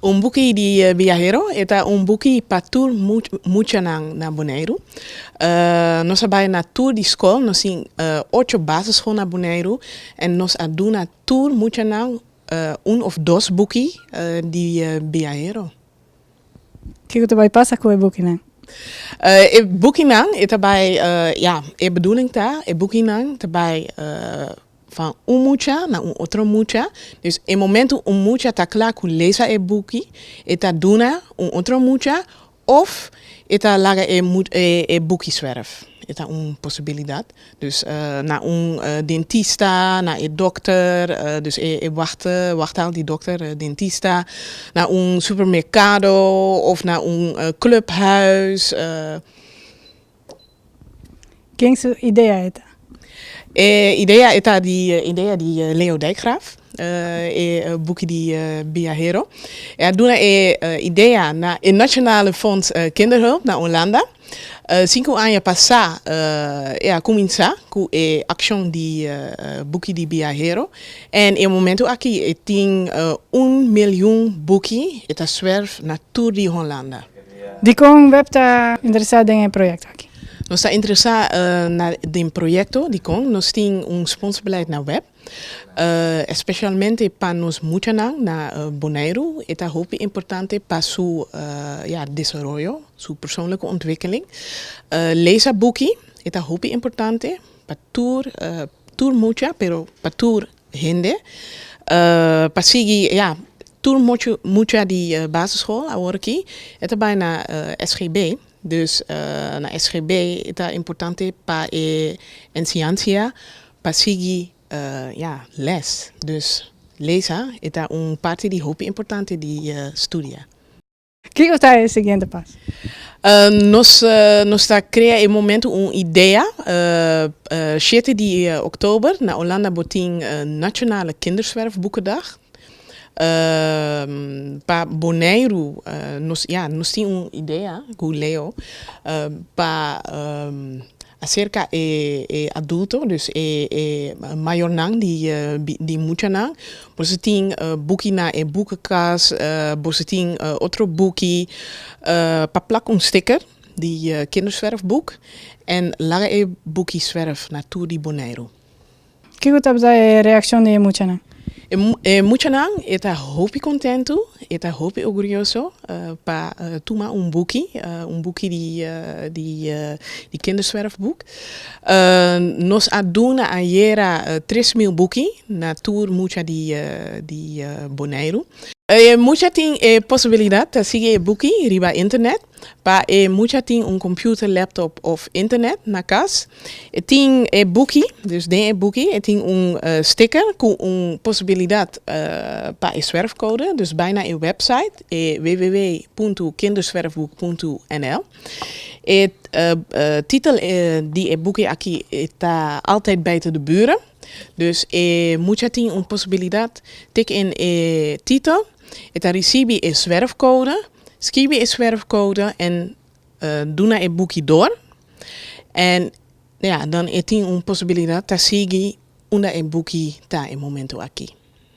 Un buki di biahero, e ta un buki pa tur muchanan na Boneiru. Nos a bai na tur di skol, nos tin ocho basisschool na Boneiru en nos a duna tur muchanan un of dos buki di biahero. Kiko ta bai pasa ku e bukinan? E bukinan e ta bai, ya, e bedoeling ta e bukinan ta bai. van un mucha na un otro mucha, dus e momento un mucha ta kla ku lesa e buki, e ta duna un otro mucha òf e ta laga e e buki swerf. E ta un posibilidat. Dus na un dentista, na e dòkter, dus e e wahta wahta al di dòkter, dentista, na un supermerkado òf na un klùphuis. Ken su idea e ta? E idea e ta di idea di Leo Dijkgraaf, e buki di Biahero. E a duna e idea na e Nationale Fonds Kinderhulp na Olanda. Sinku aña pasá e a kuminsá ku e akshon di buki di biahero en e momentu aki e tin un milyun buki e ta swerf na tur di Holanda. Dikon web ta interesá den e proyekto aki? Nos ta interesá na den proyekto dikon nos tin un sponsbeleid na web, espeshalmente pa nos muchanan na Boneiru. E ta hopi importante pa su ya desaroyo, su persoonlijke ontwikkeling. Lesa buki, e ta hopi importante pa tur tur mucha pero pa tur Hende pa sigui ya tur mucha mucha di basisschool awor aki e ta bai na SGB dus na SGB e ta importante pa e enseñancia pa sigui ya les dus lesa e ta un parti di hopi importante di studia. Kiko ta e siguiente pas? Nos nos ta crea e momento un idea. Shete di oktober na Olanda bo tin Nationale Kinderzwerfboekendag. Pa Boneiru nos ya nos tin un idea cu Leo pa Acerca e e adulto, dus e e mayornan di di muchanan, boso tin buki na e boekenkas, boso tin otro buki, pa plak un sticker di Kinderzwerfboek en laga e buki zwerf na tur di Boneiru. Kiko tabata e reakshon di e muchanan? E muchanan e ta hopi kontentu, e ta hopi orguyoso pa tuma un buki, un buki di Kinderzwerfboek. Nos a duna ayera tres mil buki na tur mucha di Boneiru. E mucha tin e posibilidat ta sigui e buki riba internet. Pa e mucha tin un computer, laptop of internet na cas. E tin e buki, dus den e buki e tin un sticker cu un posibilidad pa e zwerfcode. Dus bay na e website e www.kinderzwerfboek.nl. E titel di e buki aki ta altijd buiten de buren. Dus e mucha tin un posibilidad tik in e titel. E ta risibi e swerfkoude, skibi e swerfkoude en duna e buki dor en ya dan e tin un posibilidat ta sigui unda e buki ta e momento aki.